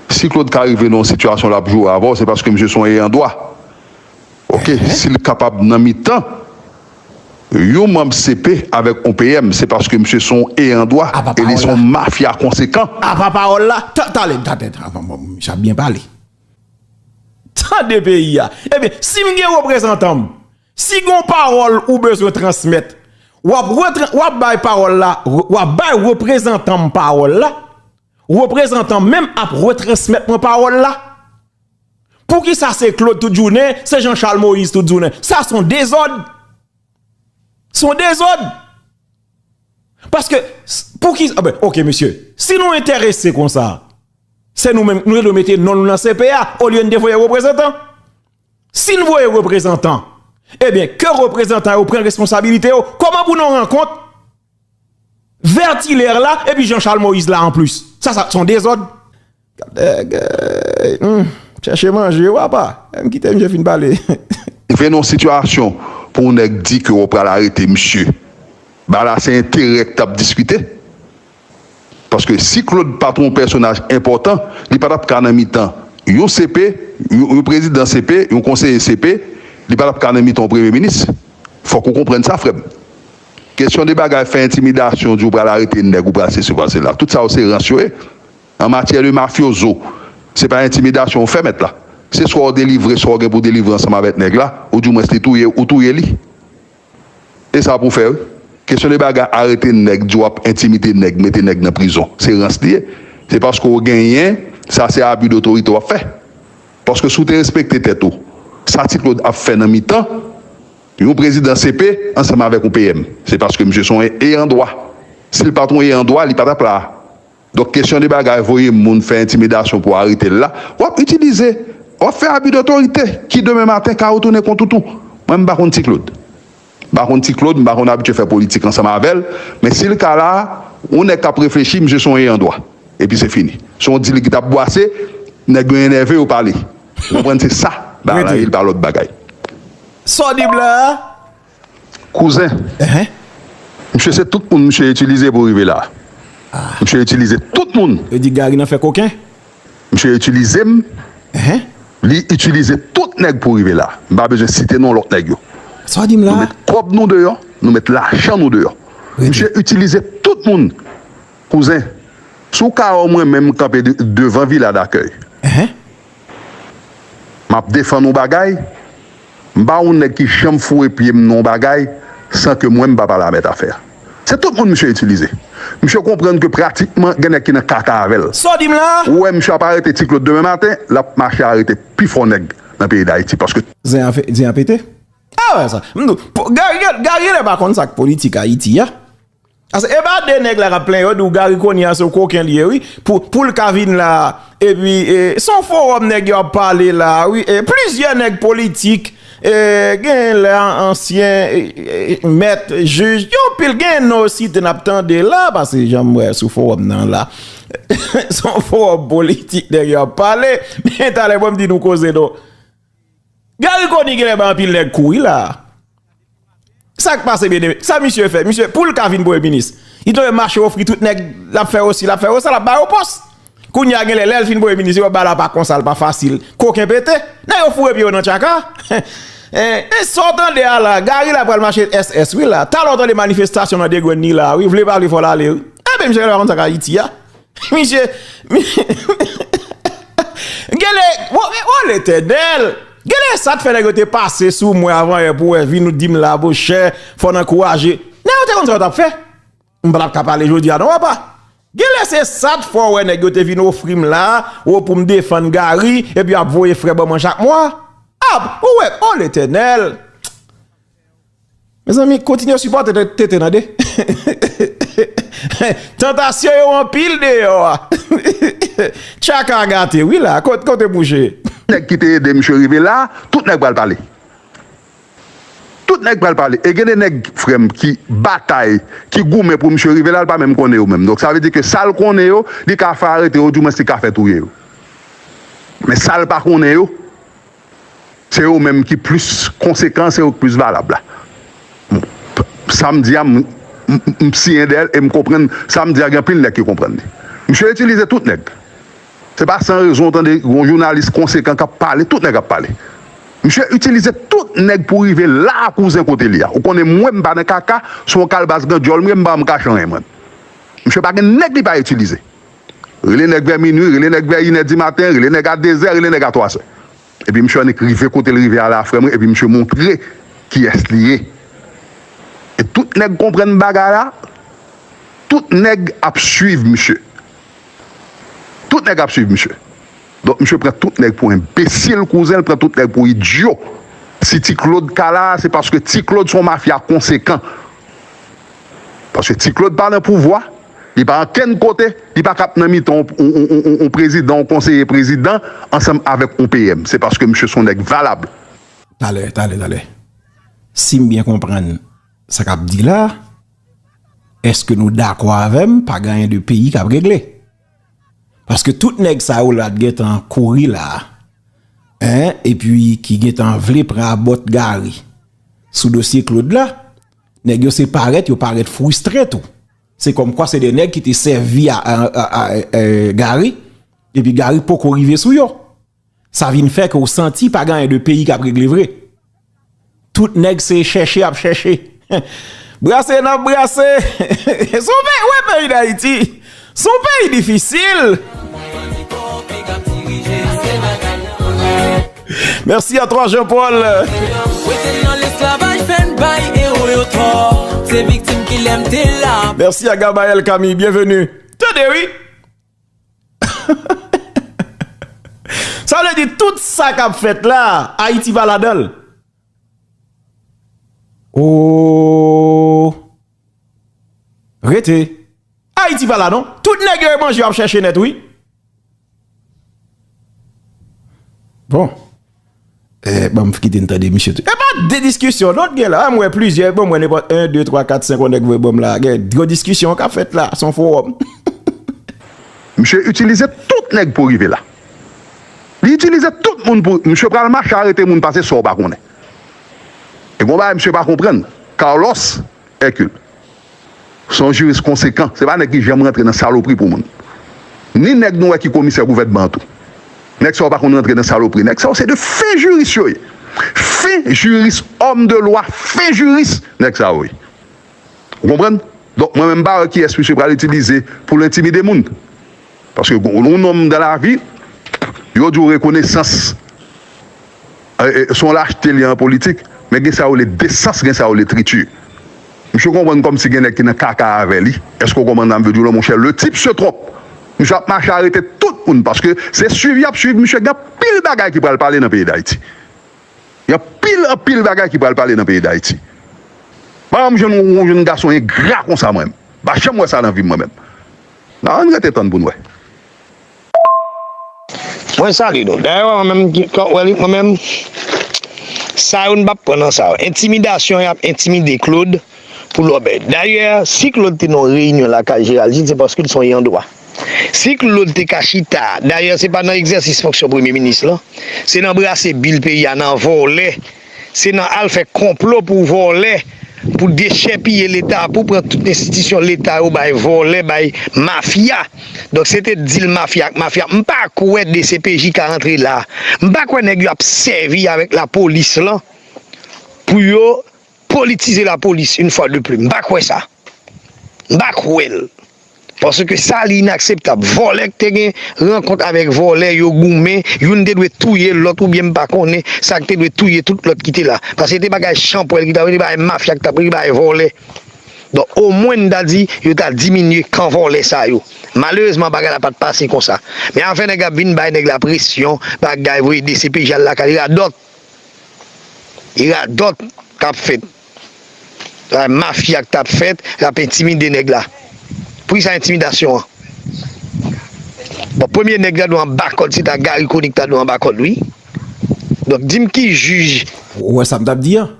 Si Claude ka rive nan yon sitiyasyon lap joure avèw se paske misye son eyan dwa ok sil kapab nan mitan yon manb CP avèk yon PM se paske misye son eyan dwa e li son mafya konsekan. Apa pawòl la? Tan tale ta tèt avan mò misye ap byen pale tande peyi ya ebyen sim gen reprezantanm si gon pawòl ou bezwen transmèt wap wap bay pawòl la wap bay reprezantanm pawòl la Reprezantan menm ap retransmèt mwen pawòl la? Poukisa se Claude tout jounen, se Jean Charles Moïse tout jounen? Sa son dezòd! Son dezòd! Paske, pouki, a ben, ok mesye, si nou enterese kon sa, se nou menm, nou te dwe mete non nou nan CP a, olye nou te voye reprezantan. Si nou voye reprezantan, e ben, ke reprezantan yo pren responsabilite yo, kòman pou nou rankont? Vert hilaire la epi jean Charles moïse la anplis sa sa t son dezòd. Kadègèy humm chèche manje ou apa em kite misye fin pale. Vin yon sitiyasyon pou yon nèg di ke wou pral arete misye ba la se enterè ki tap diskite paske si Claude pat yon pèsonaj enpòtan li pa tap ka nan mitan yon CP yon prezidan CP yon konseye CP li pa tap ka nan mitan yon premye minis fòk ou konprann sa frèm. Kesyon de bagay fè entimidasyon ou di ou pral arete nèg ou pral sesi ou pral sela tout sa yo se rans yo ye an matyè de mafyozo se pa entimidasyon ou fè mèt la se swa ou delivre swa ou gen pou delivre ansanm avèk nèg la ou di mwens li touye ou touye li e sa pou fè wi kesyon de bagay arete nèg di wap entimide nèg mete nèg nan prizon se rans li ye se paske ou genyen sa se abi dotorite wap fè paske si ou te respekte tèt ou sa ti klod ap fè nan mitan. Yon prezidan CP ansanm avèk yon PM se paske misye son eyan dwa. Sil pat yon eyan dwa li patap la. Donk kesyon de bagay voye moun fè entimidasyon pou aretel la wap itilize wap fè abi dotorite ki demen maten ka retounen kont ou tou. Mwen mpa konn Ticlod. Mpa konn Ticlod mpa konn abitye fè politik ansanm avèl men sil ka la yon nèg kap reflechi misye son eyan dwa. Epi se fini. Son dil ki tap bwase nèg yo enève yo pale. Ou konprann se sa bagay la ye li pa lòt bagay. Sa w di blan an? Kouzen, misye se tout moun misye itilize pou rive la. Misye itilize tout moun. Yo di Gary nan fè koken? Misye itilize m. Li itilize tout nèg pou rive la. M pa bezwen site non lòt nèg yo. Sa w di m la? Nou met kòb nou deyò, nou met lajan nou deyò. Misye itilize tout moun. Kouzen, si w ka wè w mwen menm kanpe devan vila dakèy. Map defann yon bagay, m pa yon nèg ki janm foure pye m nan yon bagay san ke mwen m pa pale a mèt afè a. Se tout moun misye itilize. Misye konprann ke pratikman gen nèg ki nan kaka avè l. Sa w di m la a? Ou wè misye ap arete Ti Claude demen maten, lap mache arete pi fò nèg nan peyi Dayiti paske. Zen an fe, zen an pete. Gary Gary lè pa konn sak politik Ayiti a. Ase epa de nèg la kap plen yo diw Gary Conille a se yon koken li ye wi poul ka vin la epi se yon forom nèg yo ap pale la wi e plizyè nèg politik e gen lè ansyen mèt jij gen anpil gen non yo site nap tande la pase janm wè sou forom nan la se yon forom politik nèg yo ap pale men talè mwen m di nou koze nou. Gary conille genlè bay anpil nèg kou wi la. Sak pase bien aimé? Sa misye fè? Misye poul ka vin premye minis li dwe mache ofri tout nèg lap fè osi lap fè osa lap ba yo pòs. Kounya genlè lèl fin premye minis yo bal apa konsa l pa fasil. Koken pete. Nèg yo foure pye yo nan tchaka. E sa w tande a la? Gary la pral mache SS wi la. Talè w tande manifestasyon nan degwenn ni la wi. Vle pa vle fò l ale wi. Anben misye genlè pa konn sak Ayiti a. Misye Genle Wol etenel Genle sat fè nèg yo te pase sou mwen avan yè pou wè vin ou dim la bo chè fò nan kouraje Nèg yo te konn sa yo tap fè M pa tap ka pale jodi a non apa Genle se sat fò wè nèg yo te vin ofri m la ou pou m defann Garry epi ap voye frè ban mwen chak mwa Ap ou wè Wol etenel. Mezanmi kontinye sipòte TT tande Tantasyon yo anpil deyò a Tchaka a gate wi la kote mouche. Nèg ki te ede misye rive la tout nèg pral pale tout nèg pral pale e gen de nèg frèm ki batay ki goumen pou misye rive la l pa menm konnen yo menm donk sa vle di ke sal konnen yo li ka fè arete yo ou di mwens li ka fè touye yo men sal pa konnen yo Se yo menm ki plis konsekan, se yo ki plis valab la. Sa m di a, m siyen dèyè l e m konprann sa m di a gen anpil nèg ki konprann li. Misye itilize tout nèg. Se pa san rezon ou tande yon jounalis konsekan k ap pale, tout nèg ap pale. Misye itilize tout nèg pou rive la a kouzen kote li a. Ou konnen mwen m pa nan kaka, se yon kalbas gandyòl m ye, m pa janm kache anyen mwen. Misye pa gen nèg li pa itilize. Rele nèg vè minwi, rele nèg vè inè dimaten, rele nèg a dezè, rele nèg a twazè. Epi msye annik rive kote l rive a la frè mwen epi msye montre kiyès li ye. E tout nèg konprann bagay la, tout nèg ap swiv msye. Tout nèg ap swiv msye. Donk msye pran tout nèg pou enbesil, kouzen l pran tout nèg pou idyo. Si Ti Klod ka la a se paske Ti Klod se yon mafya konsekan. Paske ti Claude pa nan pouvwa, li pa ankenn kote, li pa kap nan mitan yon prezidan, yon konseye prezidan ansanm avèk yon PM. Se paske misye son nèg valab. Talè, talè, talè. Si m byen konprann sa k ap di la, èske nou dakò avè m pa gen anyen de peyi k ap regle? Paske tout nèg sa yo la t gen tan kouri la a, epi ki gen tan vle pran abòtgari sou dosye Claude la, Nèg yo se parèt, yo parèt fristre tou. Se kòm kwa se de nèg ki te sèvi a Gary, epi Gary poko rive sou yo. Sa vin fè ke ou santi pa ganyen de peyi kap regle vre. Tout nèg se chèche ap chèche. Brase nan brase. Sou pe, ou e peyi da iti. Son peyi difisil. Merci a toi Jean Paul. Merci a Gabael Camille, bienvenue. Tande wi. Sa vle di tout sa k ap fèt la, Ayiti pa ladan l. Ooh. Rete. Ayiti pa la non. Tout nèg yo e manje yo ap chèche nèt wi. Bon. E banm kite n tande misye tou. E pa de diskisyon non t gen la. M wè plizyè bon mwen nenpòt 1, 2, 3, 4, 5 on nèg voye banm la. Gen gwo diskisyon kap fèt la. Son fowòm. Misye itilize tout nèg pou rive la. Li itilize tout moun pou. Misye pral mache arete moun pase sa w pa konnen. E gon bagay misye pa konprann, Carlos Hercule se yon jiris konsekan, se pa nèg ki janm rantre nan salopri pou moun. Ni nèg nou wè ki komisè gouvènman an tou. Nèg sa yo pa konn rantre nan salopri. Nèg sa yo se 2 fen jiris yo ye. Fen jiris, homme de loi, fen jiris nèg sa yo ye. Ou konprann? Donk mwen menm m pa wè kiyès misye pral itilize pou l entimide moun. Paske yon nonm dan lavi, yo di w rekonesans se yon lachte li an politik, men gen sa yo rele desans, gen sa yo rele triti. Misye konprann kòmsi gen nèg ki nan kaka avè li. Èske w konprann sa m vle di w la monchè? Le type se trompe. Misye ap mache arete tout moun paske se suiv y ap suiv misye. Gen anpil bagay ki pral pale nan peyi Dayiti. Gen anpil anpil bagay ki pral pale nan peyi dayiti pa janm jwenn yon jenn gason engra konsa mwen menm m pa janm wè sa nan vim mwen menm nan ann rete tann poun wè. Mwen salye nou dayè wè mwen menm kòm wè li mwen menm sa yo nou pap pran nan sa yo entimidasyon yap entimide Claude pou lòbèy dayè si Claude te nan yon reyinyon lakay Gérald Gilles se paske li son yandwa. Si Claude te ka chita, dayè se pa nan egzèsis fonksyon premye minis lan, se nan brase bil peyi a, nan vòlè, se nan al fè konplo pou vòlè, pou dechèpiye leta, pou pran tout enstitisyon leta yo bay vòlè, bay mafya. Donk se te dil mafya ak mafya. M pa kwè dcpj ka antre la. M pa kwè nèg yo ap sèvi avèk lapolis lan pou yo politize lapolis, une fois de plus. M pa kwè sa. M pa kwè l. Paske sa li inakseptab. Vòlè k te gen rankont avèk vòlè yo goumen, youn te dwe touye lòt oubyen m pa konnen sa k te dwe touye tout lòt ki te la. Paske se te bagay chanpwèl ki t ap rele bagay mafya ki t ap rele bagay vòlè. Donk omwen n ta di yo ta diminye kan vòlè sa yo. Malerezman bagay la pa t pase konsa. Men afè nèg ap vin bay nèg la presyon, bagay voye dcpj al lakay li radòt. Li radòt k ap fèt. La mafia ki tap fèt, lap entimide nèg la. Pou kisa entimidasyon an? Bon premye nèg la dwe anba kòd se ta Garry Conille ki ta dwe anba kòd wi. Donk dim ki jij. Ou wè sam tap di an?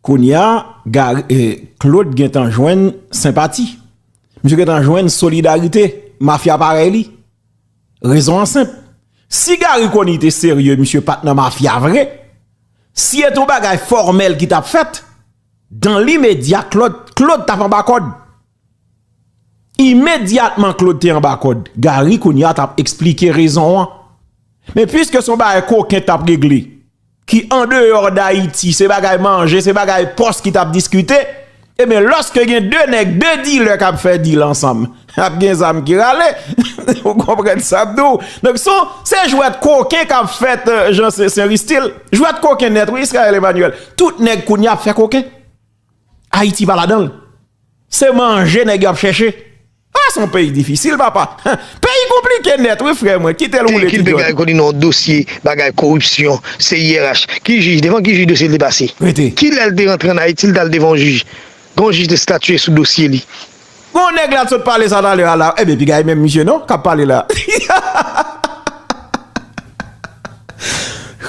Kounya Garry Claude gentan jwenn senpati. Misye gentan jwenn solidarite mafia parèy li. Rezon an senp. Si Garry Conille te serye misye pat nan mafia vre. Si et yon bagay fòmèl ki tap fèt, dan limedya Claude tap anba kòd. Imedyatman Claude te anba kòd, Garry kounya tap eksplike rezon an. Men pwiske son bagay koken tap regle, ki andeyò dayiti, se bagay manje, se bagay pòs ki tap diskite, Ebyen loske gen 2 nèg 2 dilè kap fè dil ansanm ap gen zam ki rale ou konprann sap di w donk son se jwèt koken kap fèt jan se se ristil jwèt koken nèt wi Israel Emmanuel tout nèg kounya ap fè koken Ayiti pa ladanl se manje nèg yo ap chèche. Ah son peyi difisil papa. Peyi konplike nèt wi frè mwen kitel roule ti John. Kite koni nan dosye bagay koripsyon CIRH ki jij devan ki jij dosye li te pase? Rete. Kilèl te rantre an Haiti li tal devan yon jij? Gen yon jij te statye sou dosye li? Gen yon nèg la t sot pale sa talè a la ebyen piga e menm misye non kap pale la.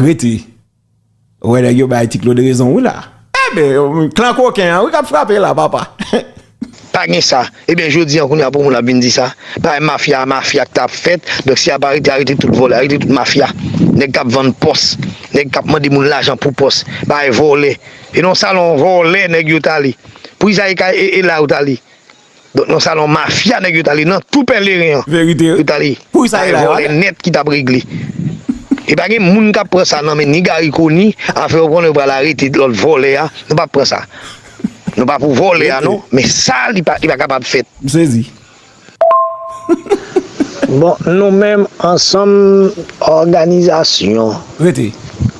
Rete. Ou wè nèg yo bay ti Claude rezon wi la. Ebyen klan koken an wi kap frape la papa. Pa gen sa. Ebyen jodi an kounya pou moun ap vin di sa. Bagay mafya a mafya ki ta ap fèt. Donk si y ap arete arete tout vòlè, arete tout mafya. Nèg k ap vann pòs, nèg k ap mande moun lajan pou pòs. Bagay vòlè. E nan salon vòlè nèg yo t ale. Pou Izayi Kay e e la yo t ale. Donk nan salon mafya nèg yo t ale nan tou pèleren an Verite yo t ale Pou usa ye la yo ale. nèt ki tap regle e pa gen moun kap pran sa nan men ni Garry Conille afè yo konnen yo pral arete lòt vòlè a nou pap pran sa nou pa pou vòlè a non men sa li pa li pa kapab fèt. M sezi. Bon nou menm ansanm òganizasyon. Rete.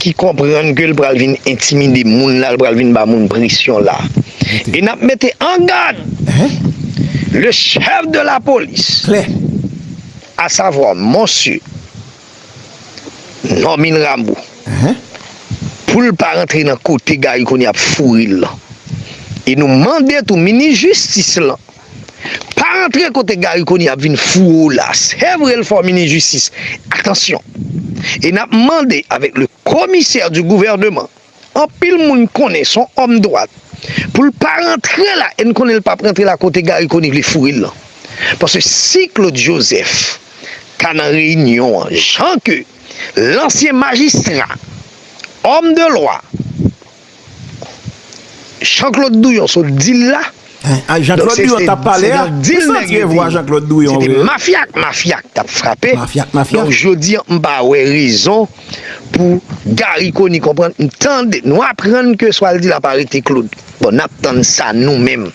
ki konprann ke l pral vin entimide moun la, l pral vin ba moun presyon la. E n ap mete an gad le chef de la police, a savwa Monsye Normil Rameau, pou l pa rantre nan kote Garry Conille ap foure l lan. E nou mande tou minis jistis lan. Pa rantre kote Garry Conille ap vin foure w la, se vre l fò minis jistis, atansyon! E nap mande avèk le komisè di gouvèneman, anpil moun konnen s on òm dwat, pou l pa rantre la e n konnen l pap rantre la kote Garry Conille vle foure l lan. Paske si Claude Joseph ta nan reyinyon an jan ke lansyen majistra, òm de lwa, Jean Claude Douyon sot dil la Donk se te nan dil nèg yo te Se te mafya ak mafya k tap frape Donk jodi an m pa wè rezon pou Garry Conille konprann m tande nou aprann ke sa l di la pa rete Claude Bon n ap tann sa nou menm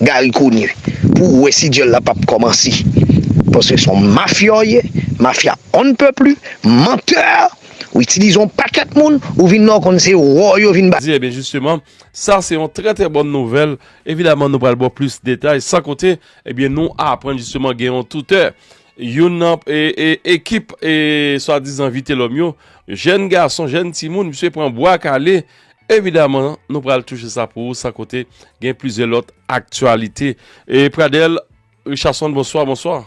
Garry Conille pou w wè si dyòl la pap kòmanse Paske s on mafyòye mafya on ne peut plus menteur Ou itilize yon pakèt moun ou vin la ou konn se wou yo vin ba. Di ebyen jisteman sa se yon trè trè bòn nouvèl evidaman nou pral ba w plis detay san konte ebyen nou aprann jisteman gen yon toutè youn nan ekip swadizan vitelòm yo jèn gason jèn timoun misye pran bwa kale evidaman nou pral touche sa pou ou san konte gen plizyè lòt aktyalite e Pradel Richardson bonswa bonswa.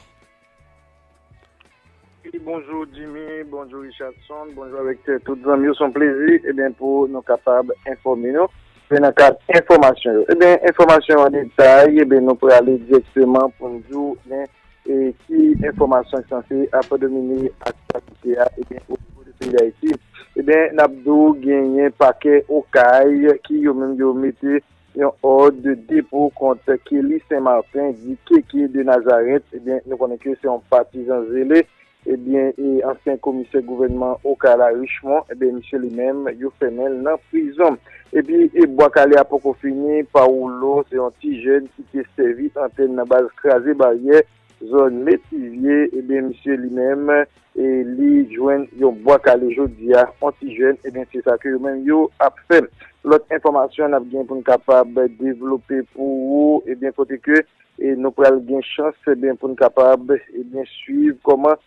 Bonjou Jimmy, bonjou Richardson, bonjou avèk tout zanmi yo. Son plezi ebyen pou nou kapab enfòme nou se nan kad enfòmasyon yo. Ebyen enfòmasyon an detay ebyen nou prale direkteman pou n di w ebyen ki enfòmasyon ki sanse ap domine aktyalite a ebyen o nivo de peyi Dayiti. Ebyen n ap di w genyen pakè Okay ki yo menm yo mete. Yon òd de depo kont Kelly Saint Martin di KK de Nazareth ebyen nou konnen ke se yon patizan zele ebyen ansyen komisè gouvènman Okay la Richemond ebyen misye li menm yo fèmenl nan prizon epi bwa kale a poko fini Paolo se yon ti jèn ki te sèvi antèn nan baz kraze baryè zòn Metivye, ebyen misye li menm li jwenn yon bwa kale jodi a, yon ti jèn, ebyen se sa ke yo menm yo ap fè. Lòt enfòmasyon n ap gen pou n kapab devlope pou ou, ebyen kote ke nou pral gen chans ebyen pou n kapab ebyen swiv kòman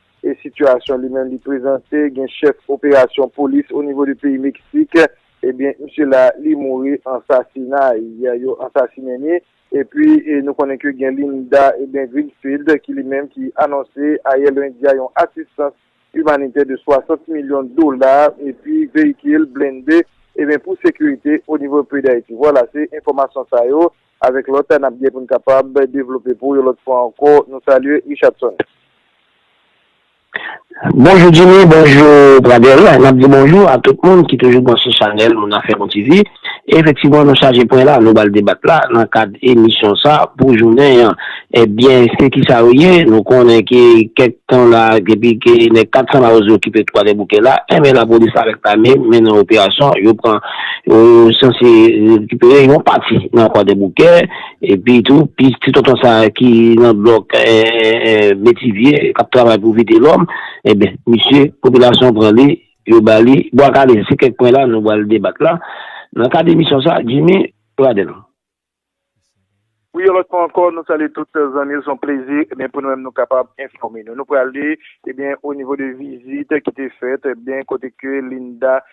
sitiyasyon li menm li prezante, gen chèf operasyon polis o nivo de peyi Meksik, ebyen misye la li mouri, ansasinay, yo ansasinen li. Epi nou konnen ke gen Linda Greenfield ki li menm ki anonse ayè lendi a yon asistans imanitè de 60 milyon dola epi veyikil blende ebyen pou sekirite o nivo peyi Dayiti. Vwala se enfòmasyon sa yo avèk lòt nap gen pou n kapab devlope pou ou yon lòt fwa ankò. Nou salye Richardson. Bonjou Jimmy bonjou Pradel nap di bonjou a tout moun ki toujou branche chanèl moun afè bon TV efektivman nou chaje pwen la nou bal debat la nan kad emisyon sa pou jounen an ebyen se kisa yo ye nou konnen ke kèk tan la depi ke nèg 400 mawozo yo kipe kwadèboukè la enben lapolis avèk lame mennen operasyon yo pran yo sanse rekipere yon pati nan kwadèboukè. Epi tou, plis ti tonton sa a ki nan blòk Metivye, k ap travay pou Vitelòm, enben, misye, popilasyon an pran li, yo ba li Bwa Kale. Se kèk pwen la nou pral debat la nan kad emisyon sa a. Djimi, Pradel. Wi, yon lòt fwa ankò, nou salye tout zanmi yo. Se yon plezi pou nou menm nou kapab enfòme nou. Nou prale, ebyen, onivo de vizit ki te fèt, ebyen, kote ke Linda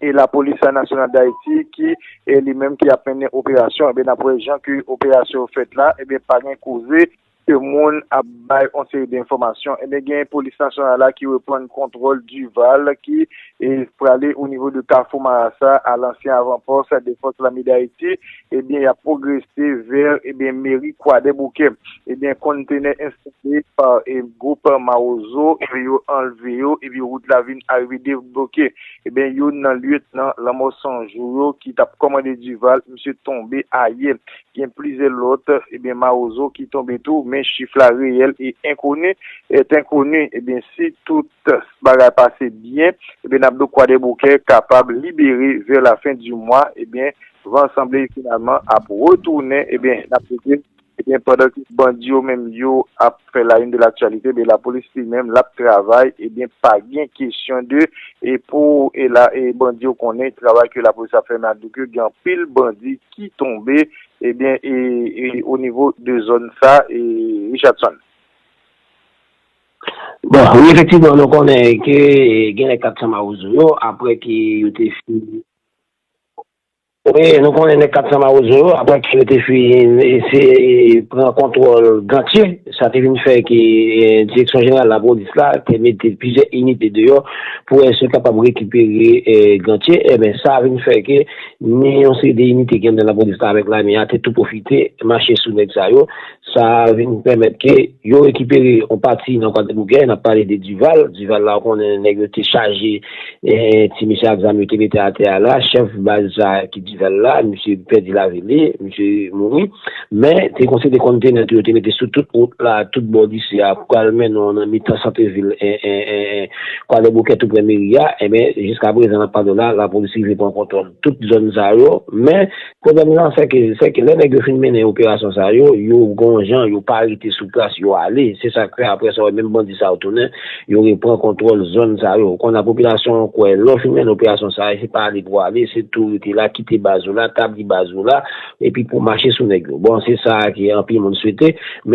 e lapolis nasyonal dayiti ki li menm ki ap mennen operasyon ebyen nap wè jan ke operasyon yo fèt la ebyen pa gen koze ke moun ap bay yon seri de enfòmasyon ebyen gen polis nasyonal la ki reprann kontwòl Duval ki prale o nivo de kafou marasa a lansyen avanpòs de fòs lame dayiti ebyen yap pwogrese vè ebyen meri kwadèboukè ebyen konntenè enstale pa gwoup mawozo ebyen yo anlve yo epi wout la vin arive debloke ebyen youn nan lyetnan lanmò 100 jou yo ki tap kòmande duval misye tonbe ayè gen plizyè lòt ebyen mawozo ki tonbe tou men chif la reyèl e enkoni et enkoni ebyen si tout bagay pase byen ebyen nap do kwadèboukè kapab libere vè lafen di mwa ebyen Van sanble finalman ap retounen ebyen nap rete ebyen pandan ke bandi yo menm yo ap fè la une de l'actualité ebyen la police li menm lap travay ebyen pa gen kesyon de e pou e la e bandi yo konnen travay ke la police ap fè men ado ke gen anpil bandi ki tonbe ebyen e e o nivo de zòn sa e Richardson. Bon wi efektivman nou konnen ke genlè 400 mawozo yo aprè ke yo te fin. Wi, nou konnen nèg k ap fè mawozo yo, apre ke yo te fin eseye pran kontwòl Gantye, sa te vin fè ke Direksyon Jeneral Lapolis la te mete plizyè inite deyò pou wè si yo kapab rekipere Gantye. Enben, sa vin fè ke ni yon seri de inite ki anndan Lapolis la avèk Lame a te tou pwofite mache sou nèg sa yo. Sa a vin pèmèt ke yo rekipere yon pati nan Kwadebougè, n ap pale de Duval. Duval la ou konnen nèg yo te chaje ti mesye ak zam yo te mete atè a la. Chèf baz sa a ki Duval la, misye pèdi lavi li, misye mouri. Men, te konsi de konntenè tou yo te mete sou tout wout la, tout bò lise a pou al mennen w nan mitan santevil Kwadèboukè toupre meri a. Enben, jiskaprezan n ap pale w la, lapolis rive pran kontwòl tout zòn sa yo. Men. Pwoblèm nan sè ke, sè ke lè nèg yo fin mennen operasyon sa yo, yo gon jan, yo pa rete sou plas, yo ale. Se sa k fè aprè sa w wè menm bandi sa yo tounen, yo repran kontwòl zòn sa yo. Kounye a popilasyon an kwè lè w fin mennen operasyon sa a, se pa ale pou ale, se tou rete la, kite baz ou la, tabli baz ou la, epi pou w mache sou nèg yo. Bon, se sa a ke anpil moun swete, men.